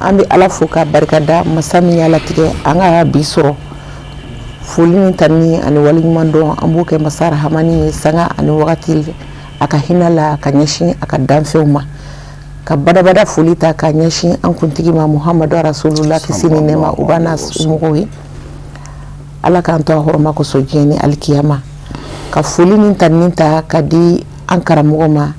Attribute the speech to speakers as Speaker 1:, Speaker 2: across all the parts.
Speaker 1: an bɛ ala fo ka barika da masa min y'a latigɛ an ka bi sɔrɔ foli ni tanuni ani waleɲuman dɔn an b'o kɛ masa rahamani ye sanga ani wagati a ka hinɛ la ka ɲɛsin a ka danfɛnw ma ka badaa foli ta ka ɲɛsin an kuntigi ma muhamadu rasululahi kisi ni nɛɛma o b'a n'a mɔgɔw ye ala k'an to hɔrɔma kosɔn diɲɛ ni alikiyama ka foli ni tanuni ta ka di an karamɔgɔ ma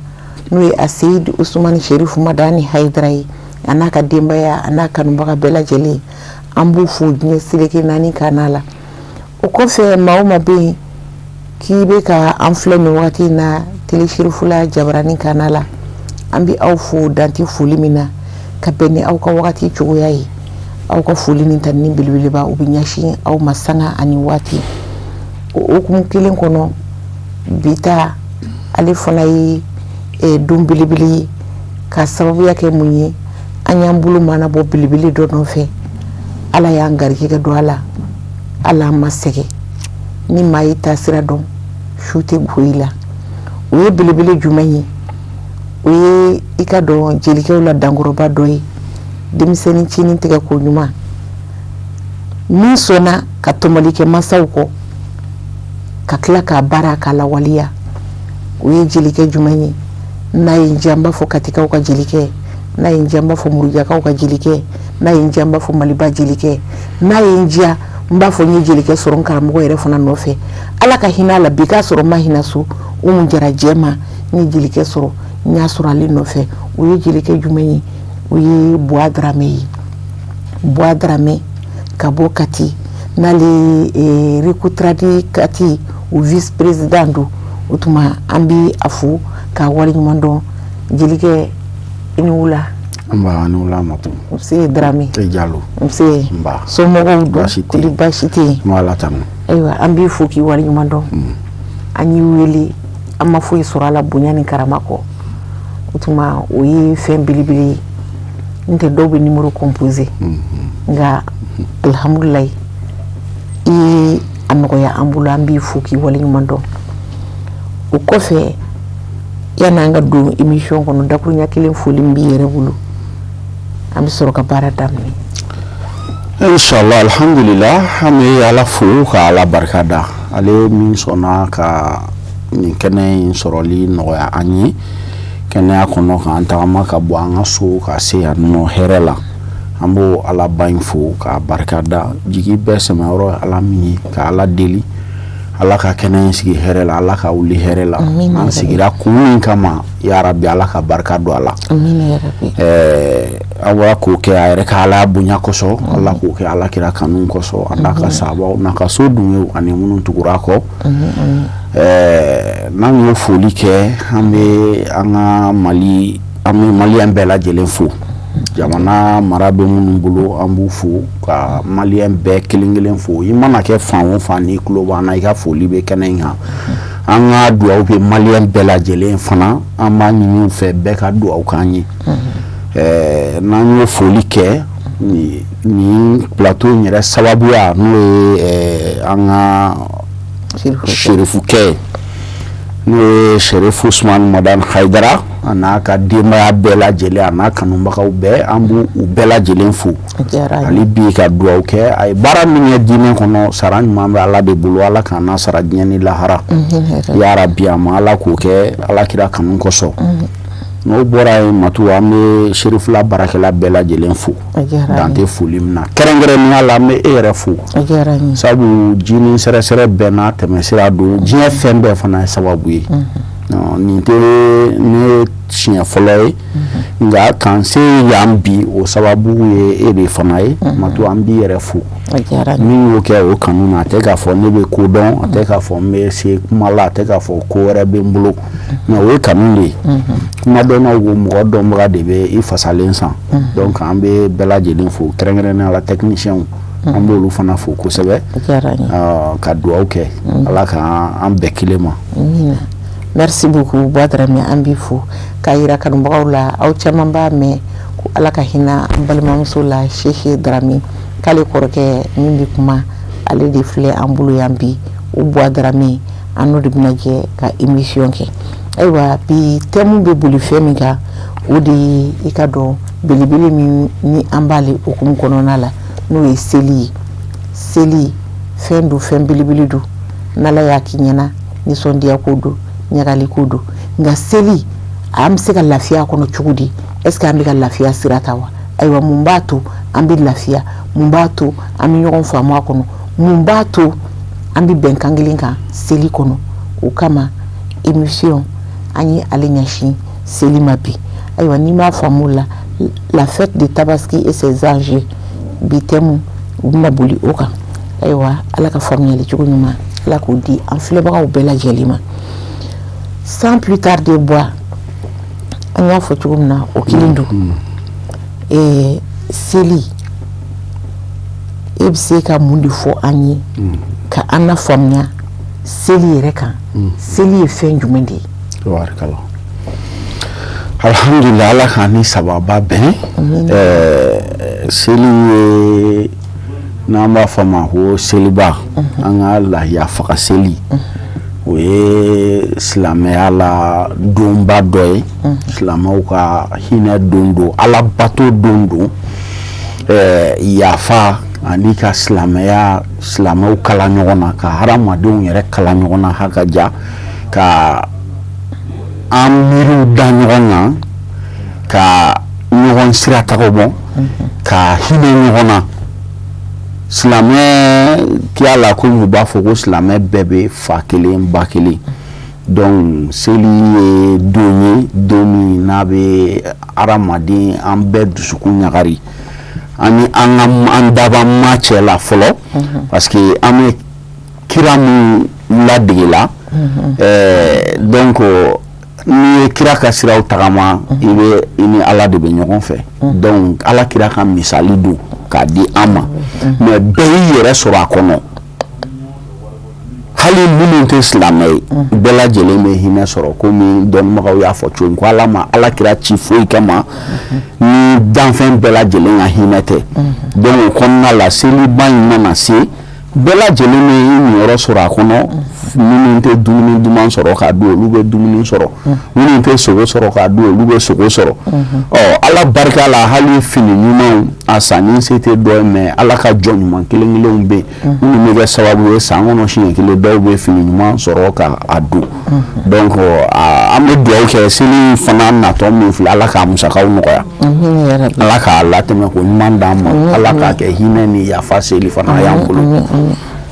Speaker 1: n'o ye aseyidi usumani serifu madani hayidara ye a n'a ka denbayaya a n'a kanubaga bɛɛ lajɛlen an b'u fo diɲɛ seleke naani ka a la o kɔfɛ maa o maa bɛ yen k'i bɛ ka an filɛ nin waati in na tele serifula jabaranin ka a la an bɛ aw fo dan tɛ foli min na ka bɛn ni aw ka waati cogoya ye aw ka foli ni tanuni belebeleba o bɛ ɲɛsin aw ma sanga ani waati o kuma kelen kɔnɔ bi ta ale fana ye don belebele ye ka sababuya kɛ mun ye an y'an bolo manabɔ belebele dɔ nɔfɛ ala y'an garijɛgɛ don a la ala ma sɛgɛn ni maa y'i taasira dɔn su tɛ ko i la o ye belebele jumɛn ye o ye i ka dɔn jelikɛw la dankɔrɔba dɔ ye denmisɛnnincinin tigɛ ko ɲuman min sɔnna ka tɔmɔli kɛ masaw kɔ ka tila k'a baara k'a lawaleya o ye jelikɛ jumɛn ye n'a ye n diya n b'a fɔ katikaw ka jelikɛ n'a ye n diya n b'a fɔ murujakaw ka jelikɛ n'a ye n diya n b'a fɔ maliba jelikɛ n'a ye n diya n b'a fɔ n ye jelikɛ sɔrɔ karamɔgɔ yɛrɛ fana nɔfɛ ala ka hinɛ a la bi k'a sɔrɔ ma hinɛ so umu jara jɛma n ye jelikɛ sɔrɔ n y'a sɔrɔ ale nɔfɛ o ye jelikɛ jumɛn ye o ye buwa daramɛ ye buwa daramɛ ka bɔ kati n'ale recotrade kati o vice président don o tuma an bɛ a fo k'a waleɲuman dɔn jelikɛ i ni wula
Speaker 2: nse
Speaker 1: daramɛ jalo
Speaker 2: somɔgɔw don
Speaker 1: baasi tɛ
Speaker 2: ayiwa an b'i
Speaker 1: fo k'i waleɲuman dɔn an y'i wele an ma foyi sɔrɔ a la bonya ni karama kɔ o tuma o ye fɛn belebele ye n tɛ dɔw bɛ numéro composer nka alihamdulayi i y'a nɔgɔya an bolo an b'i fo k'i waleɲuman dɔn o kɔfɛ yanni an ka don émission kɔnɔ dakuruɲa kelen foli b'i yɛrɛ bolo an bɛ sɔrɔ ka baara daminɛ
Speaker 2: inshallah alihamdulila an bɛ ala fo ka ala barika da ale min sɔnna ka nin kɛnɛ in sɔrɔli nɔgɔya an ye kɛnɛya kɔnɔ k'an tagama ka bɔ an ka so ka se yan nɔ hɛrɛ la an b'o alaba in fo ka barika da jigi bɛɛ sɛmɛ yɔrɔ ala min ye ka ala deli ala ka kɛnɛ in sigi hɛrɛ la ala ka wuli hɛrɛ la an sigira kun min kama yarabi ala ka barika don a
Speaker 1: la ala
Speaker 2: k'o kɛ a yɛrɛ ka ala bonya kosɔn ala k'o kɛ ala kira kanu kosɔn a n'a ka sahabaw n'a ka sodenw ye ani minnu tugura kɔ n'an ye foli kɛ an bɛ an ka mali an bɛ maliyɛn bɛɛ lajɛlen fo jamana mara bɛ minnu bolo an b'u fo ka maliyɛn bɛɛ kelen kelen fo i mana kɛ fan o fan n'i tulo b'an na i ka foli bɛ kɛnɛ in kan an ka dugawu bɛ maliyɛn bɛɛ lajɛlen fana an b'a ɲini u fɛ bɛɛ ka dugawu k'an ye n'an ye foli kɛ nin pilato in yɛrɛ sababuya n'o ye an ka serifukɛ ye n'o ye serifu usumani madani hayidara a n'a ka denbaya bɛɛ lajɛlen a n'a kanubagaw bɛɛ an b' u bɛɛ lajɛlen fo hali bi ka dugawu kɛ a ye baara min ye diinɛ kɔnɔ sara ɲuman bɛ ala de bolo ala ka an sara diɲɛ ni lahara yarabi a ma ala k'o kɛ ala kira kanu kosɔn n'o bɔra yen matu an bɛ serifula baarakɛla bɛɛ lajɛlen fo dan tɛ foli min na kɛrɛnkɛrɛnnenya la n bɛ e yɛrɛ fo sabu jinin sɛrɛsɛrɛ bɛɛ n'a tɛmɛ sira don diɲɛ fɛn bɛɛ fana ye sababu ye nin tɛ ne siɲɛ fɔlɔ ye nka k'an se yan bi o sababu ye e de fana ye matu an b'i yɛrɛ fo min y'o kɛ o kanu na a tɛ k'a fɔ ne bɛ ko dɔn a tɛ k'a fɔ n bɛ se kuma la a tɛ k'a fɔ ko wɛrɛ bɛ n bolo nka o ye kanu de ye kumadɔnnaw ko mɔgɔ dɔnbaga de bɛ i fasalen san dɔnki an bɛ bɛɛ lajɛlen fo kɛrɛnkɛrɛnnenya la tɛkinisiyɛnw an b'olu fana fo kosɛbɛ ka dugawu kɛ ala k' an bɛɛ kelen
Speaker 1: ma buwa daramɛ an b'i fo k'a jira kanubagaw la aw caman b'a mɛn ko ala ka hinɛ an balimamuso la sisi daramɛ k'ale kɔrɔkɛ min bɛ kuma ale de filɛ an bolo yan bi o buwa daramɛ an de bɛna jɛ ka emisiyɔn kɛ ayiwa bi tɛmu bɛ boli fɛn min kan o de ye i ka don belebele min ni an b'ale hukumu kɔnɔna la n'o ye seli ye seli fɛn don fɛn belebele don n'ala y'a k'i ɲɛna nisɔndiya ko don ɲagali ko don nka seli an bɛ se ka lafiya kɔnɔ cogo di eseke an bɛ ka lafiya sira ta wa ayiwa mun b'a to an bɛ lafiya mun b'a to an bɛ ɲɔgɔn faamu kɔnɔ mun b'a to an bɛ bɛnkan kelen kan seli kɔnɔ o kama émission an ye ale ɲɛsin seli ma bi ayiwa n'i m'a faamu la fête de Tabaski et ses enjeux bi thème u bɛna boli o kan ayiwa ala ka faamuyali cogo ɲuman ala k'o di an filɛbagaw bɛɛ lajɛlen ma sans plus tarder Buwa an y'a fɔ cogo min na o kelen don ɛɛ seli e bɛ se ka mun de fɔ an ye mm. ka an na faamuya seli yɛrɛ kan mm. seli ye fɛn jumɛn de ye
Speaker 2: alihamudulila ala k'an ni sababa bɛn ɛɛ seli ye n'an b'a fɔ a ma ko seliba mm-hmm. an ka lahiya faga seli mm-hmm. o ye silamɛya la donba dɔ ye silamɛw ka hinɛ don don alabato don don yafa ani ka silamɛya silamɛw kala ɲɔgɔn na ka hadamadenw yɛrɛ kala ɲɔgɔn na hakaja ka an miiriw da ɲɔgɔn na ka ɲɔgɔn sira tagama ka hinɛ ɲɔgɔn na silamɛ kiya la komi u b'a fɔ ko silamɛ bɛɛ bɛ fa kelen ba kelen Donc seli ye don ye don min n'a bɛ hadamaden an bɛɛ dusukun ɲagari an ni an dabaa ma cɛ la fɔlɔ parce que an bɛ kira min ladege la donc n'i ye kira ka siraw tagama i bɛ i ni ala de bɛ ɲɔgɔn fɛ donc ala kira ka misali don k'a di an ma mais bɛɛ y'i yɛrɛ sɔrɔ a kɔnɔ hali minnu tɛ silamɛ ye bɛɛ lajɛlen bɛ hinɛ sɔrɔ komi dɔnnibagaw y'a fɔ cogo min ko ala ma ala kira ci foyi kama ni danfɛn bɛɛ lajɛlen ka hinɛ tɛ donc o kɔnɔna la seliba in mana se bɛɛ lajɛlen bɛ niyɔrɔ sɔrɔ a kɔnɔ minnu tɛ dumuni duman sɔrɔ k'a dun olu bɛ dumuni sɔrɔ minnu tɛ sogo sɔrɔ k'a dun olu bɛ sogo sɔrɔ ɔ ala barika la hali fini ɲuman a sanni se tɛ dɔ ye mais ala ka jɔn ɲuman kelen kelenw bɛ minnu bɛ kɛ sababu ye san kɔnɔ siɲɛ kelen dɔw bɛ fini ɲuman sɔrɔ ka a don donc an bɛ dugawu kɛ seli fana natɔ min filɛ Ala k'a musakaw nɔgɔya Ala k'a latɛmɛ ko ɲuman d'an ma Ala k'a kɛ hinɛ ni yafa seli fana ye an bolo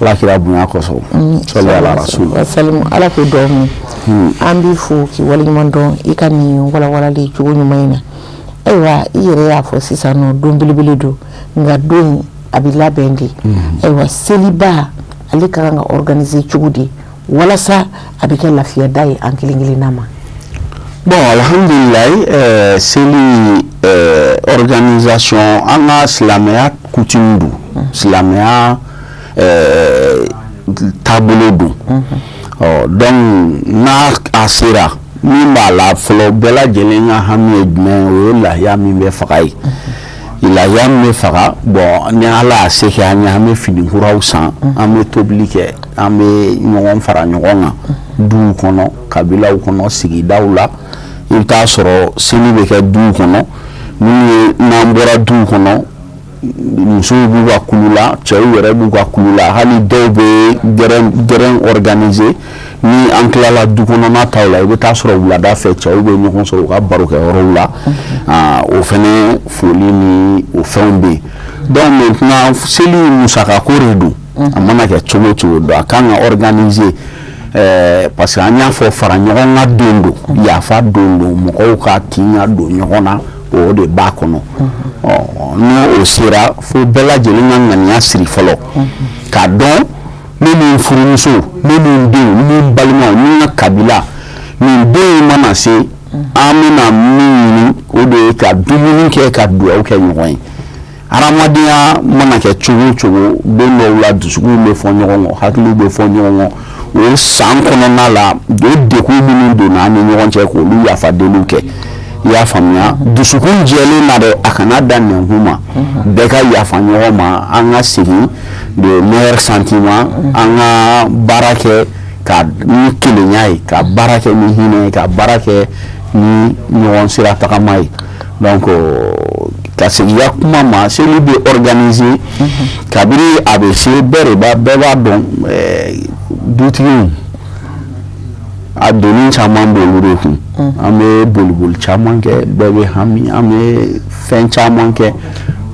Speaker 2: Ala kira bonya kosɔn sɔli Ala rasulu Ala k'o di
Speaker 1: aw ma an b'i fo k'i waleɲuman dɔn i ka nin walawalali cogo ɲuman in na ayiwa i yɛrɛ y'a fɔ sisan nɔ don belebele don nka don in a bɛ labɛn de ayiwa seliba ale ka kan ka organiser cogo di walasa a bɛ kɛ lafiyada ye an kelen kelen na ma bon
Speaker 2: alhamdulilayi eh, seli eh, organisation an ka silamɛya coutume don silamɛya eh, taabolo don ɔ donc n'a a sera min b'a la fɔlɔ bɛɛ lajɛlen ka hami ye jumɛn ye o ye lahiya min bɛ faga ye. lahiya bɛ faga bon ni ala y'a se kɛ an ye an bɛ finikuraw san an bɛ tobili kɛ an bɛ ɲɔgɔn fara ɲɔgɔn kan duw kɔnɔ kabilaw kɔnɔ sigidaw la i bɛ t'a sɔrɔ seli bɛ kɛ duw kɔnɔ n n'an bɔra duw kɔnɔ musow b'u ka kulu la cɛw yɛrɛ b'u ka kulu la hali dɔw bɛ gɛrɛn organiser ni an tilala du kɔnɔna ta la i bɛ taa sɔrɔ wulada fɛ cɛw bɛ ɲɔgɔn sɔrɔ u ka barokɛyɔrɔw la ah, o fɛnɛ foli ni o fɛnw bɛ yen donc maintenant seli musaka ko de don a mana kɛ cogo o cogo don a kan ka organiser eh, parce que an y'a fɔ fara ɲɔgɔn kan don don yafa don don mɔgɔw ka tin ka don ɲɔgɔn na o de b'a kɔnɔ n'o o sera fo bɛɛ lajɛlen ka ŋaniya siri fɔlɔ k'a dɔn ni n furumuso ni n denw ni n balimaw ni n ka kabila nin don mana se an bɛna min ɲini o de ye ka dumuni kɛ ka dugawu kɛ ɲɔgɔn ye hadamadenya mana kɛ cogo o cogo don dɔw la dusu bɛ fɔ ɲɔgɔn kɔ hakili bɛ fɔ ɲɔgɔn kɔ o ye san kɔnɔna la o degun minnu donna an ni ɲɔgɔn cɛ k'olu yafa deliw kɛ i y'a faamuya dusukun jɛlen na dɛ a kana dan nɛnkun ma bɛɛ ka yafa ɲɔgɔn ma an ka segin sentiments an ka baara kɛ ka ni kelenya ye ka baara kɛ ni hinɛ ye ka baara kɛ ni ɲɔgɔn sira tagama ye donc ka seginya kuma ma seli bɛ organiser kabiri a bɛ se bɛɛ bɛɛ b'a dɔn dutigiw a doni caman bɛ olu de kun an bɛ boliboli caman kɛ bɛɛ bɛ hami an bɛ fɛn caman kɛ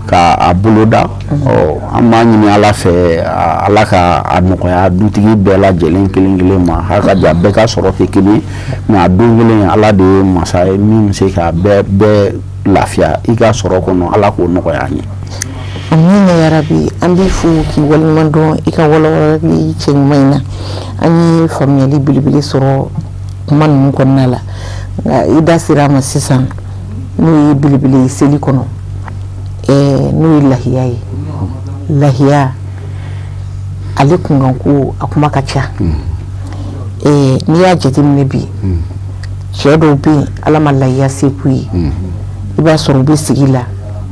Speaker 2: k'a boloda ɔ an b'a ɲini ala fɛ ala k'a nɔgɔya dutigi bɛɛ lajɛlen kelen kelen ma hakika bɛɛ ka sɔrɔ tɛ kelen mais a don kelen ala de ye masa ye min bɛ se ka bɛɛ bɛɛ lafiya i ka sɔrɔ kɔnɔ ala k'o nɔgɔya an ye
Speaker 1: amina ya rabi an b'i fo k'i waleɲuman dɔn i ka walawalali cɛɲuman in na an ye faamuyali belebele sɔrɔ kuma ninnu kɔnɔna la nka i da sera a ma sisan n'o ye belebele ye seli kɔnɔ n'o ye lahiya ye lahiya ale kunkanko a kuma ka ca n'i y'a jateminɛ bi cɛ dɔw bɛ yen ala ma layiya se k'u ye i b'a sɔrɔ u bɛ sigi la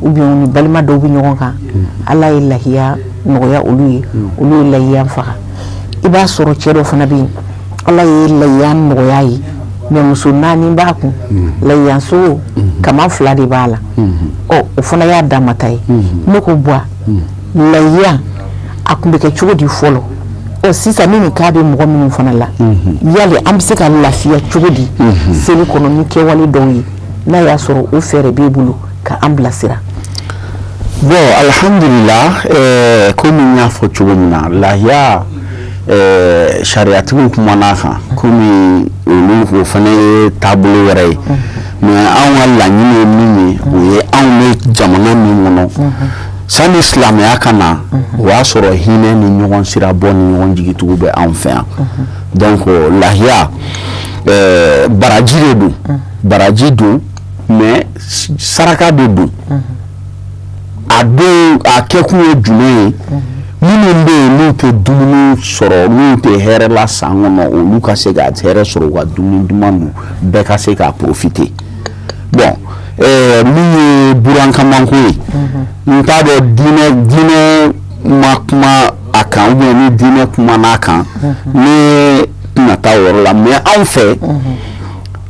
Speaker 1: ubiyɛn ni balima dɔw bɛ ɲɔgɔn kan ala ye layiya nɔgɔya olu ye olu ye layiya faga i b'a sɔrɔ cɛ dɔ fana bɛ yen ala ye layiya nɔgɔya ye mɛ muso naani b'a kun mm. layiya sogo mm-hmm. kaman fila de b'a la mm-hmm. ɔ o fana y'a dama ta ye mm-hmm. ne ko bon mm. layiya a kun bɛ kɛ cogo di fɔlɔ ɔ sisan ne nin k'a bɛ mɔgɔ minnu fana la yali an bɛ se ka lafiya cogo di seli kɔnɔ ni kɛwale dɔw ye n'a y'a sɔrɔ o fɛɛrɛ b'e bolo ka an
Speaker 2: bilasira bon alihamdulila eh, komi n y'a fɔ cogo min na lahiya eh, sariyatigiw kumana a kan komi olu o fana ye taabolo wɛrɛ ye mɛ anw ka laɲini ye min ye o ye anw bɛ jamana min kɔnɔ sani silamɛya ka na o y'a sɔrɔ hinɛ ni ɲɔgɔn sira bɔ ni ɲɔgɔn jigitugu bɛ anw fɛ yan donc lahiya eh, baraji de don baraji don mɛ saraka de don a don a kɛkun ye jumɛn ye minnu bɛ yen n'u tɛ dumuni sɔrɔ n'u tɛ hɛrɛ la san kɔnɔ olu ka se ka hɛrɛ sɔrɔ u ka dumuni duman dun bɛɛ ka se k'a porofite bɔn eh, min ye burankamanko ye n t'a dɔn diinɛ ma kuma a kan ubiyɛn ni diinɛ kumana a kan ne tɛna taa o yɔrɔ la mɛ anw fɛ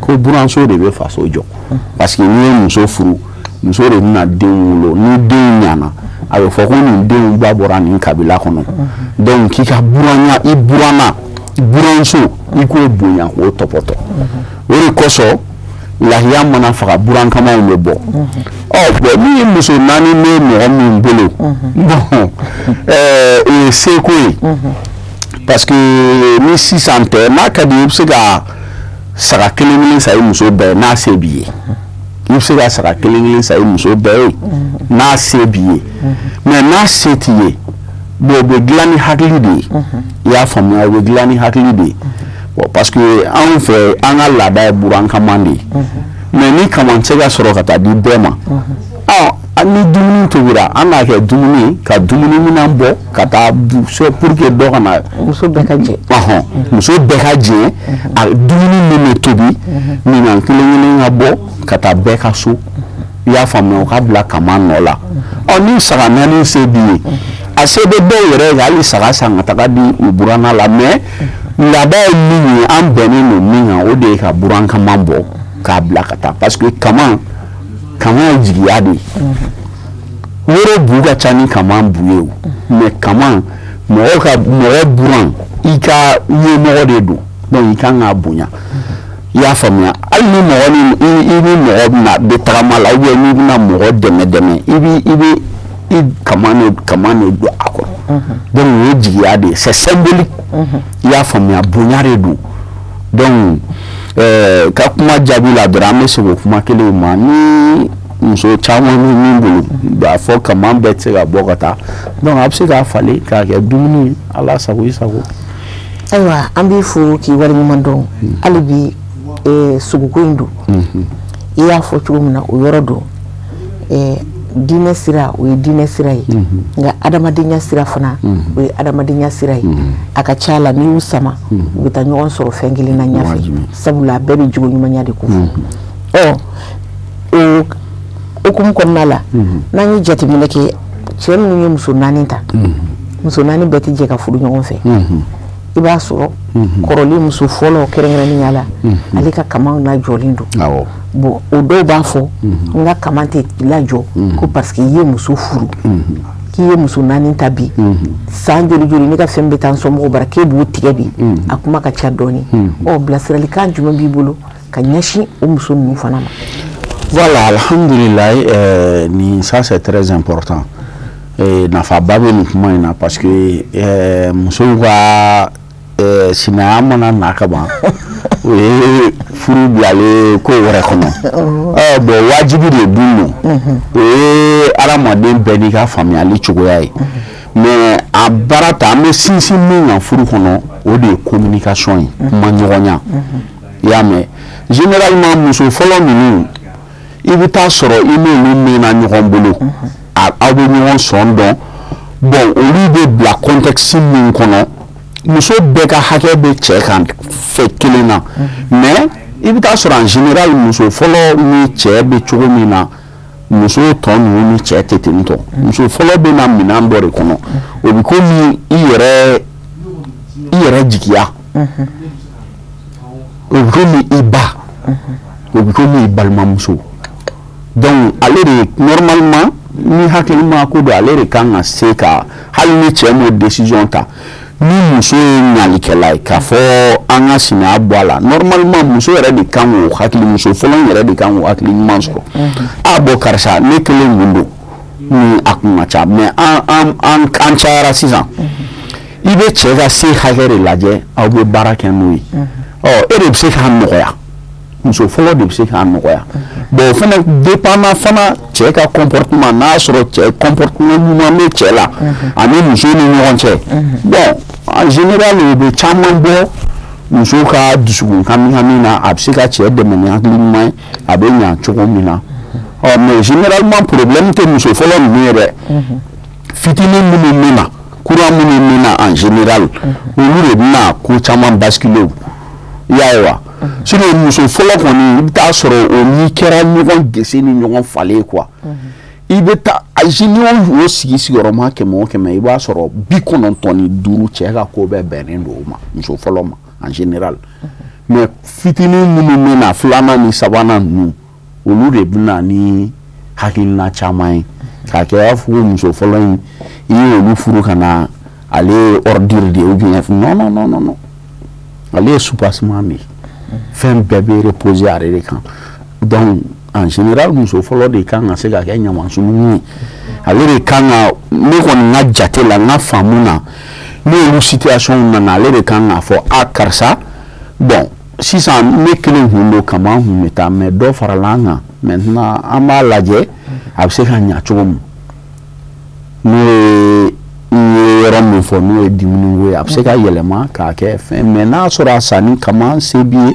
Speaker 2: ko buranso de bɛ faso jɔ parce que n'i ye muso furu muso de bɛna den wolo ni den ɲana a bɛ fɔ ko nin den ba bɔra nin kabila kɔnɔ dɔnku k'i ka buranya i buranna buranso i k'o bonya k'o tɔpɔtɔ o de kosɔn lahiya mana faga burankamanw bɛ bɔ ɔ min ye muso naani bɛ mɔgɔ min bolo bɔn o ye seko ye parce que ni sisan tɛ n'a ka di i bɛ se ka saga kelen kelen san i muso bɛɛ n'a se b'i ye i bɛ se ka saga kelen kelen san i muso bɛɛ ye n'a se b'i ye mɛ n'a se t'i ye bon o bɛ dilan ni hakili de ye i y'a faamuya o bɛ dilan ni hakili de ye bon parce que anw fɛ an ka laada ye burankaman de ye mɛ ni kaman tɛ se ka sɔrɔ ka taa di bɛɛ ma ni dumuni tobira an b'a kɛ dumuni ka dumuni minɛn bɔ ka taa pour que dɔ kana muso bɛɛ ka
Speaker 1: jɛ muso bɛɛ ka
Speaker 2: jɛ a dumuni min bɛ tobi minɛn kelen ka bɔ ka taa bɛɛ ka so i y'a faamuya o ka bila kaman nɔ la ɔ ni saga naani se b'i ye a se bɛ dɔw yɛrɛ ye hali saga san ka taga di u buranna la mais laada ye min ye an bɛnnen don min kan o de ye ka buran kaman bɔ k'a bila ka taa parce que ka kaman ye jigiya de ye woro bu ka ca ni kaman bu ye mais kaman mɔgɔ ka mɔgɔ buran i ka ɲɛmɔgɔ de don donc i ka kan k'a bonya i y'a faamuya hali ni mɔgɔ i ni mɔgɔ bɛna bɛ tagama la ou bien n'i bɛna mɔgɔ dɛmɛ dɛmɛ i bɛ i bɛ i kaman de don a kɔrɔ donc o ye jigiya de ye c'est symbolique i y'a faamuya bonya de don donc eh, ka kuma jaabi la dɔrɔn an bɛ segin o kuma kelen ma ni muso caman bɛ min bolo b'a fɔ kaman bɛɛ tɛ se ka bɔ ka taa donc a bɛ se k'a falen k'a kɛ dumuni ala sago i sago
Speaker 1: ayiwa an b'i fo k'i waleɲuman dɔn hmm. hali bi eh, sogoko in don hmm. i y'a fɔ cogo min na o yɔrɔ don diinɛ sira o ye diinɛ sira ye nka adamadenya sira fana o ye adamadenya sira ye a ka ca la n'i y'u sama u bɛ taa ɲɔgɔn sɔrɔ fɛn kelen na ɲɛfɛ sabula a bɛɛ bɛ jogo ɲumanya de kofɔ o hukumu kɔnɔna la n'an ye jateminɛ kɛ cɛ minnu ye muso naani ta muso naani bɛɛ tɛ jɛ ka furu ɲɔgɔn fɛ i b'a sɔrɔ kɔrɔlen muso fɔlɔ kɛrɛnkɛrɛnnenya la ale ka kaman lajɔlen don bon o dɔw b'a fɔ n ka kaman tɛ lajɔ ko parce que i ye muso furu k'i ye muso naani ta bi san joli joli ne ka fɛn bɛ taa n somɔgɔw bara k'e b'o tigɛ bi a kuma ka ca dɔɔni ɔ bilasiralikan jumɛn b'i bolo ka ɲɛsin o muso ninnu fana ma
Speaker 2: voilà alhamdulilayi eh, nin ça c'est très important eh, nafaba bɛ nin kuma in na parce que eh, musow ka ɛɛ sinaya mana na ka ban o ye furu bilalen ko wɛrɛ kɔnɔ ɛɛ bon wajibi de dun don o ye adamaden bɛɛ n'i ka faamuyali cogoya ye mais a baara ta an bɛ sinsin min kan furu kɔnɔ o de ye communication ye kuma ɲɔgɔnya i y'a mɛn généralement muso fɔlɔ ninnu i bɛ taa sɔrɔ i n'olu mɛnna ɲɔgɔn bolo aw bɛ ɲɔgɔn sɔn dɔn bon olu bɛ bila contexte min kɔnɔ muso bɛɛ ka hakɛ bɛ cɛ kan fɛ kelen na mais i bɛ taa sɔrɔ en général muso fɔlɔ ni cɛ bɛ cogo min na muso tɔ ninnu ni cɛ tɛ ten donc muso fɔlɔ bɛ na minɛn dɔ de kɔnɔ o bɛ komi i yɛrɛ i yɛrɛ jigiya o bɛ komi i ba o bɛ komi i balimamuso donc ale de normalement ni hakilima ko don ale de kan ka se ka hali ni cɛ m'o décision ta ni muso ye ɲalikɛla ye k'a fɔ an ka sinaya bɔ a la normalement muso yɛrɛ de kan k'o hakili muso fɔlɔ yɛrɛ de kan k'o hakili ɲuman sɔrɔ a bon karisa ne kelen mun don ni a kun ka ca mais an an an cayara sisan. i bɛ cɛ ka se hakɛ de lajɛ aw bɛ baara kɛ n'o ye e de bɛ se k'a nɔgɔya muso fɔlɔ de bɛ se k'a nɔgɔya bon o fana dépendant fana cɛ ka comportement n'a sɔrɔ cɛ comportement ɲuman bɛ cɛ la ani muso ni ɲɔgɔn cɛ bon en général o bɛ caman bɔ muso ka dusukun hami na a bɛ se ka cɛ dɛmɛ ni hakili ɲuman ye a bɛ ɲa cogo min na ɔ mais généralement problème tɛ muso fɔlɔ ninnu ye dɛ fitinin minnu bɛ na kura minnu bɛ na en général olu de bɛna ko caman basculer i y'a ye wa sinon muso fɔlɔ kɔni i bɛ taa sɔrɔ o ni kɛra ɲɔgɔn gese ni ɲɔgɔn falen quoi i bɛ taa o sigi sigiyɔrɔma kɛmɛ kɛmɛ i b'a sɔrɔ bi kɔnɔntɔn ni duuru cɛ ka ko bɛɛ bɛnnen don ma muso fɔlɔ ma en général mais fitinin minnu bɛ na filanan ni sabanan ninnu olu de bɛ na ni hakilina caman ye k'a kɛ i b'a fɔ muso fɔlɔ in i ye olu furu ka na ale ye ordure de ye ou bien non ale ye soubassement de ye fɛn bɛɛ bɛ reposer ale de kan donc en général muso fɔlɔ de kan ka se ka kɛ ɲaman sununkun ye ale de kan ka ne kɔni ka jate la n ka faamu na n'o situation nana ale de kan k'a fɔ a karisa bon sisan ne kelen kun don kamankun bɛ taa mais dɔ farala an kan maintenant an b'a lajɛ a bɛ se ka ɲa cogo min n'o ye yɔrɔ min fɔ n'o ye dumuni ye a bɛ se ka yɛlɛma k'a kɛ fɛn mais n'a sɔrɔ a sanni ka se b'i ye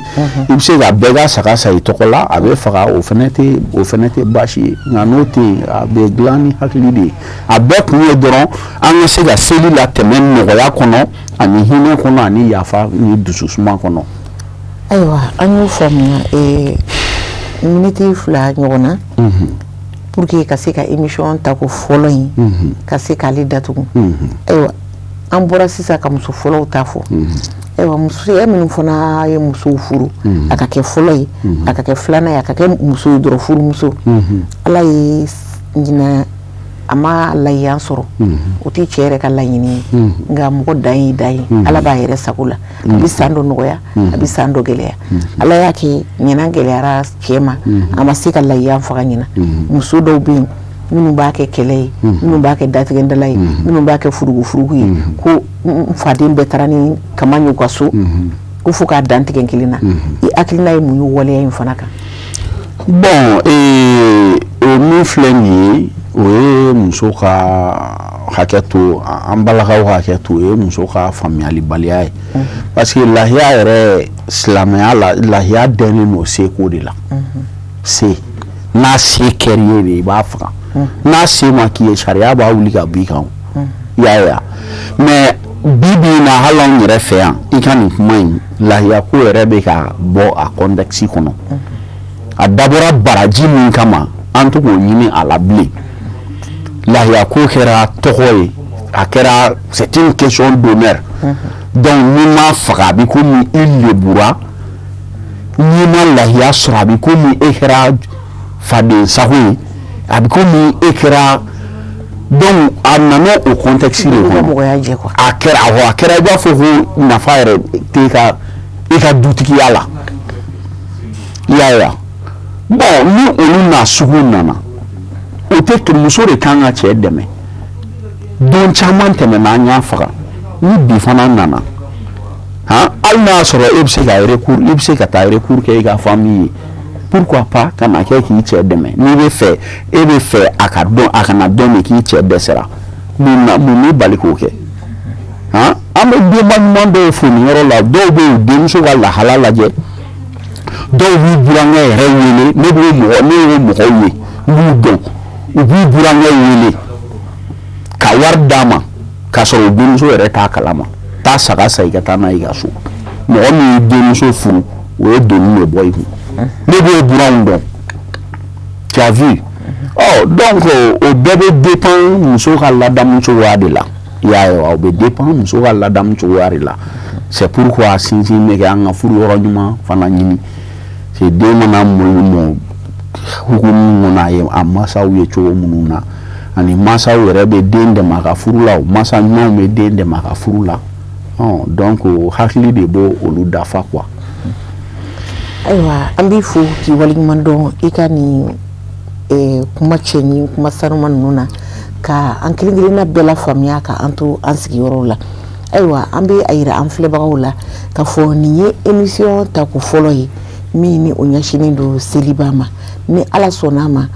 Speaker 2: i bɛ se ka bɛɛ ka saga san i tɔgɔ la a bɛ faga o fana tɛ o fana tɛ baasi ye nka n'o tɛ yen a bɛ dilan ni hakili de ye a bɛɛ kun ye dɔrɔn an ka se ka seli latɛmɛ nɔgɔya kɔnɔ ani hinɛ kɔnɔ ani yafa ni dususuma kɔnɔ
Speaker 1: ayiwa an y'o faamuya eh, miniti fila ɲɔgɔn na mhm. pour que ka se ka émission tako fɔlɔ in mhm. ka se k'ale datugu mhm. ayiwa an bɔra sisan ka muso fɔlɔw ta fɔ ayiwa muso minnu fana ye musow furu a ka kɛ fɔlɔ ye a ka kɛ filanan ye a ka kɛ muso ye dɔrɔn furumuso ala ye ɲinan a ma layiya sɔrɔ o tɛ cɛ yɛrɛ ka laɲini ye nka mɔgɔ dan y'i dan ye ala b'a yɛrɛ sago la a bɛ san dɔ nɔgɔya a bɛ san dɔ gɛlɛya ala y'a kɛ ɲinan gɛlɛyara cɛ ma a ma se ka layiya faga ɲinan muso dɔw bɛ yen minnu b'a kɛ kɛlɛ ye minnu b'a kɛ datigɛdala ye minnu b'a kɛ furukufuruku ye ko faden bɛɛ taara ni kaman y'u ka so ko fo k'a dantigɛ kelen na i hakilina ye mun ye waleya
Speaker 2: in
Speaker 1: fana kan bon o
Speaker 2: min filɛ nin ye o ye muso ka hakɛ to an balakaw hakɛ to o ye muso ka faamuyalibaliya ye parce que lahiya yɛrɛ silamɛya la lahiya dɛnnen don seko de la se n'a se kɛr'i ye de i b'a faga n'a se ma k'i ye sariya b'a wuli ka b'i kan i y'a ye mais bi bi na hali an yɛrɛ fɛ yan i ka nin kuma in layiya ko yɛrɛ bɛ ka bɔ a contexte kɔnɔ a dabɔra baraji min kama an tɛ k'o ɲini a la bilen layiya ko kɛra tɔgɔ ye a kɛra c'est une question d'honneur donc n'i m'a faga a bɛ komi i lebura n'i ma layiya sɔrɔ a bɛ komi e kɛra faden sago ye a bɛ komi e kɛra donc a nana o contexte de kɔnɔ mɔgɔya jɛ quoi a kɛra awɔ a kɛra i b'a fɔ ko nafa yɛrɛ tɛ i ka dutigiya la i y'a ye wa bon ni olu n'a sugu nana o tɛ muso de kan ka cɛ dɛmɛ don caman tɛmɛna an y'a faga ni bi fana nana han hali n'a y'a sɔrɔ e bɛ se ka recours i bɛ se ka taa recours kɛ i ka famille ye pourquoi pas ka na kɛ k'i cɛ dɛmɛ n'i b'a fɛ e b'a fɛ a ka dɔn a kana dɔn de k'i cɛ dɛsɛra mun b'i bali k'o kɛ an bɛ denba ɲuman dɔw fo yɔrɔ la dɔw bɛ denmuso ka lahala lajɛ dɔw b'u burankɛ yɛrɛ wele ne bɛ mɔgɔ ne ye mɔgɔw ye n b'u dɔn u b'u burankɛ wele ka wari d'a ma k'a sɔrɔ denmuso yɛrɛ t'a kalama taa saga san i ka taa n'a y'i ka so mɔgɔ min ye denmuso furu o ye doni de bɔ i kun ne b'o buranw dɔn tu as vu donc o bɛɛ bɛ dépend muso ka ladamu cogoya de la i y'a ye o bɛ dépend muso ka ladamu cogoya de la c'est pourquoi sinsin bɛ kɛ an ka furu yɔrɔ ɲuman fana ɲini den mana mɔ hukumu kɔnɔ a ye a masaw ye cogo minnu na ani masaw yɛrɛ bɛ den dɛmɛ ka furu la o masa ɲumanw bɛ den dɛmɛ ka furu la donc hakili de b' olu dafa quoi
Speaker 1: ayiwa an b'i fo k'i waleɲuman dɔn i ka nin kuma cɛɲi kuma sanuma ninnu na ka an kelenkelenna bɛɛ lafaamuya ka an to an sigiyɔrɔ la ayiwa an bɛ a jira an filɛbagaw la ka fɔ nin ye émission tako fɔlɔ ye min ni o ɲɛsinnen don seliba ma ni ala sɔnn'a ma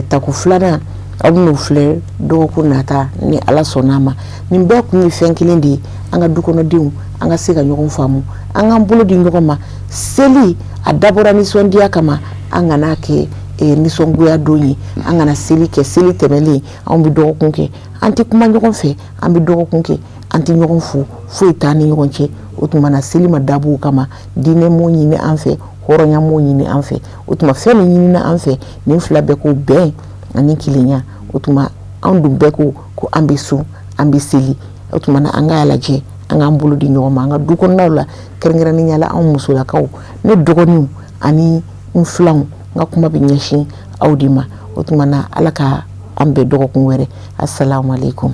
Speaker 1: tako filanan aw bɛn'o filɛ dɔgɔkun nata ni ala sɔnn'a ma nin bɛɛ kun ye fɛn kelen de ye an ka dukɔnɔdenw an ka se ka ɲɔgɔn faamu an k'an bolo di ɲɔgɔn ma seli a dabɔra nisɔndiya kama an kana kɛ nisɔngoya don ye an kana seli kɛ seli tɛmɛnlen an bɛ dɔgɔkun kɛ an tɛ kuma ɲɔgɔn fɛ an bɛ dɔgɔkun kɛ an tɛ ɲɔgɔn fo foyi t'an ni ɲɔgɔn cɛ o tuma na seli ma dabɔ o kama diinɛ m'o ɲini an fɛ hɔrɔnya m'o ɲini an fɛ o tuma fɛn min ɲinina an fɛ nin fila bɛɛ ko bɛn ani kelenya o tuma anw dun bɛɛ ko ko an bɛ sun an bɛ seli o tuma na an k'a lajɛ an k'an bolo di ɲɔgɔn ma an ka du kɔnɔnaw la kɛrɛnkɛrɛnnenya la anw musolakaw ne dɔgɔninw ani n filanw n ka kuma bɛ ɲɛsin aw de ma o tuma na ala ka an bɛn dɔgɔkun wɛrɛ assalamu alaikum